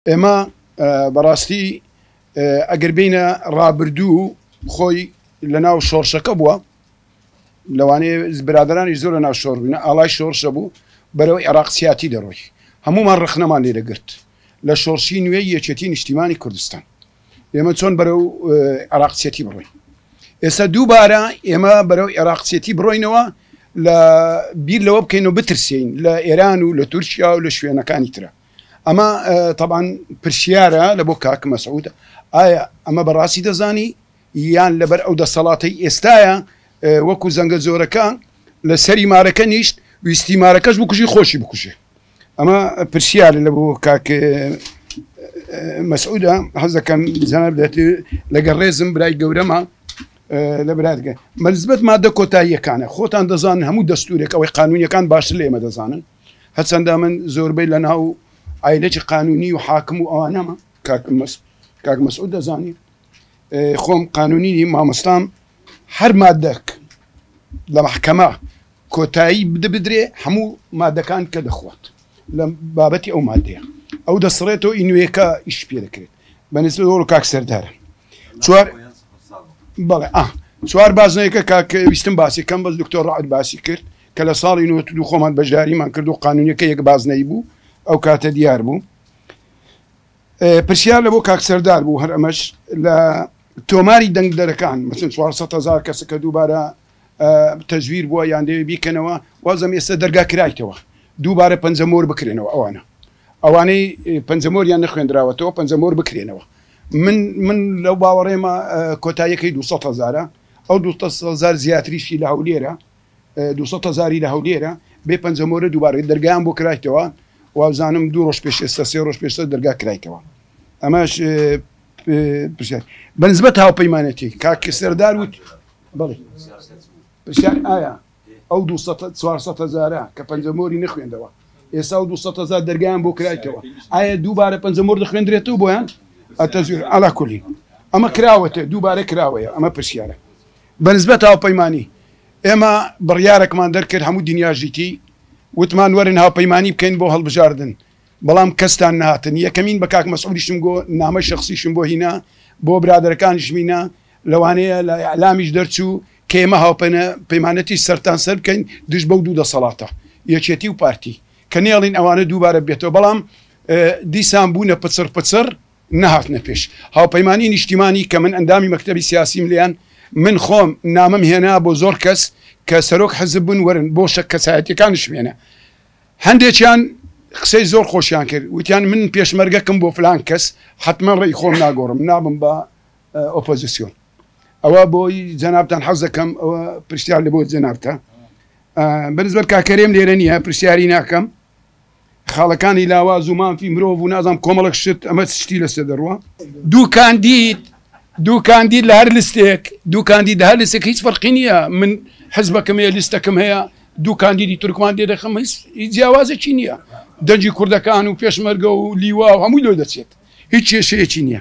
ئێمە بەڕاستی ئەگەر بینە ڕابردوو و خۆی لە ناو شۆڕشەکە بووە لەوانەیە برادرانی زۆر لە ناو شۆڕ بووینە ئاڵای شۆڕشە بوو بەرەو عێراق سیاتی دەڕۆی هەمومان ڕخنەمان لێ دەگرت لە شۆڕشی نوێی یەکێتی نیشتیمانی کوردستان ئێمە چۆن بەرەو عراقچێتی بڕۆین ئێستا دووبارە ئێمە بەرەو عێراقچێتی بڕۆینەوە لە بیر لەوە بکەین و بترسین لە ئێران و لە تورکیا و لە شوێنەکانی ترە ئەمە تەبان پرسیارە لە بۆ کاک مەسعودە ئایا ئەمە بەڕاستی دەزانی یان لەبەر ئەو دەسەڵاتی ئێستاە وەکو زەنگە زۆرەکە لە سەری مارەکە نیشت ویستی مارەکەش بکوژی خۆشی بکوژێ ئەمە پرسیارە لە بۆ کاک مەسعودە حەزەکەم جەناب دەێت لەگەڵ ڕێزم برای گەورەمە لە برادگە مەزبەت مادە کۆتاییەکانە خۆتان دەزانن هەموو دەستورێک ئەوەی قانونیەکان باش لێمە دەزانن هەرچەندە من زۆربەی لە ناو ئایلەکی قانونی و حاکم و ئەوانەمە کاک مەسعود دەزانی خۆم قانونی مامۆستام هەر مادەک لە محکەمە کۆتایی بدرێ هەموو مادەکان کە دەخوات لە بابەتی ئەو مادەیە ئەو دەسڕێتەوە ئی نوێەکە ئیش پێ دەکرێت بەنسبە وەڵ کاک سەردارە چوار بەڵێ ئا چوار بازنەیەکە کاکەویستم باسی کەم بەس دکتۆر ڕعد باسی کرد کە لە ساڵی نەوەد و دوو خۆمان بەشداریمان کرد و قانونیەکە یەک بازنەیی بوو ئەو کاتە دیار بوو پرسیار لە بۆ کاک سەردار بوو هەر ئەمەش لە تۆماری دەنگدەرەکان مەسن 400 هزار کەس کە دووبارە تەزویر بووە یان دەوێ بیکەنەوە وازم ئێستا دەرگا کرایتەوە دووبارە پەنجەمۆر بکرێنەوە ئەوانە ئەوانەی پەنجەمۆریان نەخوێندراوەتەوە پەنجەمۆر بکرێنەوە من من لەو باوەڕێمە کۆتاییەکەی 200 هزارە ئەو 200 هزار زیاتریشی لە هەولێرە دوو سەد هەزاری لە هەولێرە بێ پەنجەمۆرە دووبارە دەرگایان بۆ کرایتەوە وابزانم دوو ڕۆژ پێش ئێستا سێ ڕۆژ پێشتر دەرگا کرایتەوە ئەمەش پرسیار بەنسبەت هاوپەیمانەتی کاک سەردار وت بڵێ پرسیار ئایا ئەو 400 هزارە کە پەنجەمۆری نەخوێندەوە ئێستا و 200 هزار دەرگیان بۆ کرایتەوە ئایا دووبارە پەنجەمۆر دەخوێندرێتەوە بۆیان ئەتەزویر ئالا کولی ئەمە کراوەتە دووبارە کراوەیە ئەمە پرسیارە بە نسبەت هاوپەیمانی، ئێمە بڕیارەکمان دەرکرد هەموو دنیاش دیتی، وتمان وەرن هاوپەیمانی بکەین بۆ هەڵبژاردن، بەڵام کەستان نەهاتن، یەکەمین بە کاک مەسعودیشم گۆ، نامەی شەخسیشم بۆ هینا، بۆ برادەرەکانیشم هینا، لەوانەیە لە ئیعلامیش دەرچوو کە ئێمە هاوپەیمانەتی سەرتان سەر بکەین دژ بەو دوو دەسەڵاتە، یەکێتی و پارتی، کە نەیەڵین ئەوانە دووبارە ببێتەوە، بەڵام دیسان بوونە پچڕ پچڕ، نەهاتنە پێش هاوپەیمانیی نیشتیمانی کە من ئەندامی مەکتەبی سیاسیم لێیان، من خۆم نامەم هێنا بۆ زۆر کەس کە سەرۆک حزب بوون وەرن بۆ شە کەسایەتیەکانشم هێنا هەندێکیان قسەی زۆر خۆشیان کرد وتیان من پێشمەرگەکم بۆ فلان کەس حتمما ڕێی خۆم ناگۆڕم نابم بە ئۆپۆزیسیۆن ئەوە بۆی جەنابتان حەز دەکەم ئەوە پرسیار لە بۆ جەنابتە بەرزبەر کاکەرێم لێرە نییە پرسیاری ناکەم خاڵەکانی لاواز و مافی مرۆڤ و نازام کۆمەڵک شت ئەمە شتی لەسێ دەڕوە دوو کاندید دوو کاندید لە هەر لستێک دوو کاندید هەر لسێک هیچ فەرقی نییە من حزبەکەم هەیە لیستەکەم هەیە دوو کاندیدی تورکمان دێ دەخم هیچ جیاوازێکی نییە دەنجی کوردەکان و پێشمەرگە و لیوا و هەمووی لۆ دەچێت هیچ کێشەیەکی نییە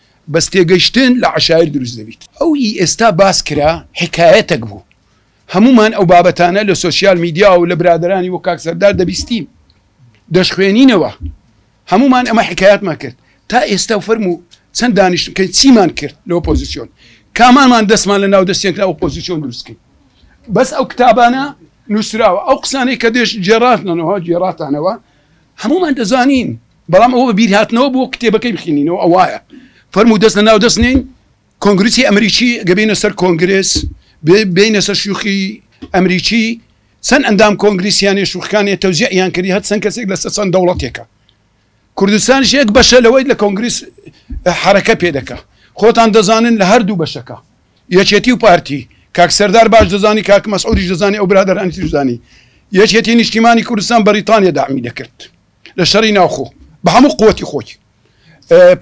بەس تێگەشتن لە عەشایر دروست دەبیت ئەو ی ئێستا باس کرا حیکایەتەک بوو هەموومان ئەو بابەتانە لە سۆسیال میدیا و لە برادەرانی وەک کاک سەردار دەبیستین دەشخوێنینەوە هەموومان ئەمە حیکایەتمان کرد تا ئێستا و فەرموو چەند دانیشتن کە چیمان کرد لە ئۆپۆزیسیۆن کامانمان دەستمان لە ناو دەستێک لە ئۆپۆزیسیۆن دروستکەین بەس ئەو کتابانە نووسراوە ئەو قسانەی کە دێش جێڕاتنەوە جێڕاتانەوە هەمومان دەزانین بەڵام ئەوە بەبیر هاتنەوە بۆ کتێبەکەی بخینینەوە ئەوایە فەرموو دەست لە ناو دەست نین کۆنگرسی ئەمریکی گەبینە سەر کۆنگرس بینە سەر شوخی ئەمریکی چەند ئەندام کۆنگلیسیانی شوخەکانی تەوزیعیان کردی هەر چەند کەسێک لە سەسەند دەوڵەتێکە کوردستان شێک بەشە لەوەی لە کۆنگلیس حرەکە پێ دەکە خۆتان دەزانن لە هەردوو بەشەکە یەکێتی و پارتی کاک سەردار باش دەزانی کاک مەسعودیش دەزانی ئەو برادرانی ترزانی یەکێتی نیشتیمانی کوردستان بەریتانیا دامی دەکرد لە شەڕی ناوخۆ بە هەموو قوتی خۆی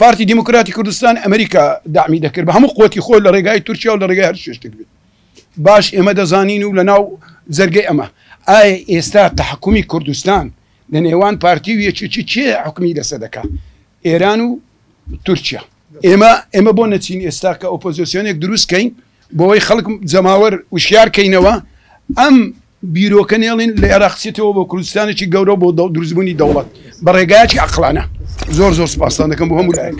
پارتی دیموکراتی کوردستان ئەمریکا دامی دەکرد بە هەموو قوتی خۆی لە ڕێگای تورکیا و لە ڕێگای هەر شێشتێک بێت باش ئێمە دەزانین و لە ناو جەرگەی ئەمە ئایا ئێستا تحکومی کوردستان لە نێوان پارتی و یەکێکی چێ حکومی لەسە دەکات ئێران و تورکیا ئێمە ئێمە بۆ نەچین ئێستا کە ئۆپۆزیسیۆنێک دروستکەین بۆی خەڵک جەماوەر وشیارکەینەوە ئەم بیرۆکە نێڵین لە ئێراق چێتەوە بۆ کوردستانێکی گەورە بۆ دروستبوونی دەوڵەت بە ڕێگایەکی عەقڵانە زۆر زۆر سوپاستان دەکەم بۆ هەموو لایەک.